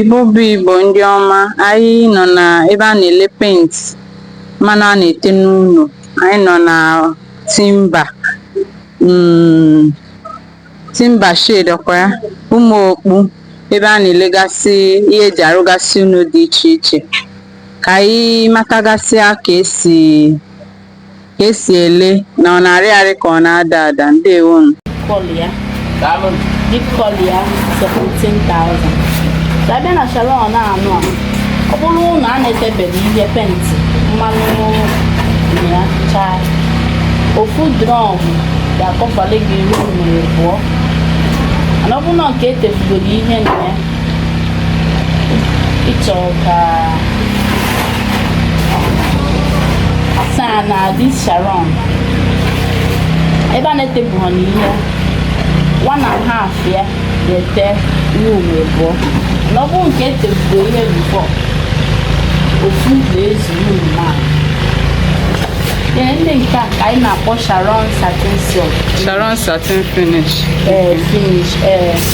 Igbo bụ Igbo ndị ọma, anyị nọ na ebe a na-ele penti mmanụ a na-ete n'ụnọ. Anyị nọ na Timba mm, Timba shed ọkwa ya, Ụmụokpu ebe a na-elegasị ihe eji arụgasị ụnọ dị iche iche. Ka anyị matagasịa ka esi ka esi ele na ọ na-arị arị ka ọ na-ada ada ndewo nụ kọlọ ya daalụ deep kọlọ ya 17,000 so abịa na sharon anụ a ọ bụrụ ụnọ a na-etebeghị ihe penti mmanụ ya chaa ofu drọm ga-akọvali gị room abụọ mana ọ bụrụ na nke etebugoro ihe na ya ịchọ ka asaa na dis sharon ebe a na-etebu ha n'ihe one and half ya na-ete room abụọ na ọ bụrụ nke etebugo ihe bifọ ofu na-ezu room a ee ndị nke a ka anyị na-akpọ sharon satin silk sharon satin finish ee finish ee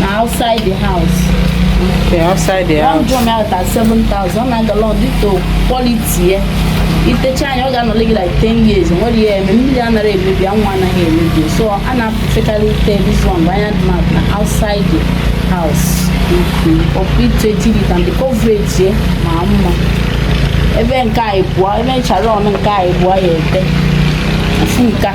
na outside the house Okay, outside the one house. drum out at 7000 ọ na-aga lọ dịka quality ya itechaa ya ọ ga-anọle gị like 10 years nwere ya eme mmiri anaghị emebi anwụ anaghị emebi so a na-apụfekarị ite this one bụ anya dị na na outside the house ọkụ ite tiri ka ndị coverage ya ma mma ebe nke a ịbụọ ebe nchara ọnụ nke a ịbụọ ya ete ofu nke a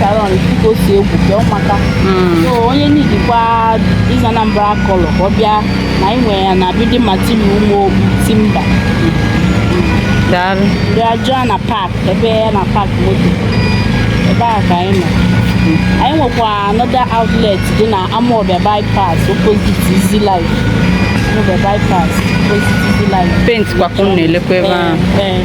Sharon dịka o si egwu bịa ụmụaka so onye nidikwa ịza Anambra kọlọ ka ọ bịa na anyị nwere ya na building material ime timba daalụ bịa jụọ na pak ebe ya na pak moto ebe a ka anyị nọ anyị nwekwa another outlet dị na Amawbia bypass opposite Easy Life Amawbia bypass opposite Easy Life penti kwa ka unu na-elekwa ebe ahụ ee ee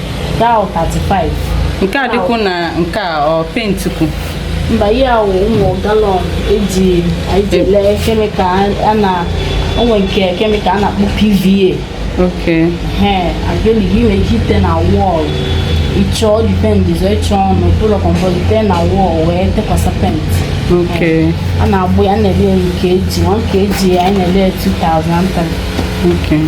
Daụ 35. Nke a dịkwu na nke a ọ penti kwu. Mba ihe a wụ ụmụ galọn eji eji e- lee kemikal a na onwe nke kemikal a na-akpọ PVA. Okay. He, acrylic ị nwere ike ite na wọl. Ịchọ dipendịz ịchọ ọnụ ụlọ kọmpọt ite na wọl wee tekwasa penti. Okay. A na-agbụ ya a na-ele ya nke eji, nwa nke eji ya a na-ele ya 2003. Okay. Mm.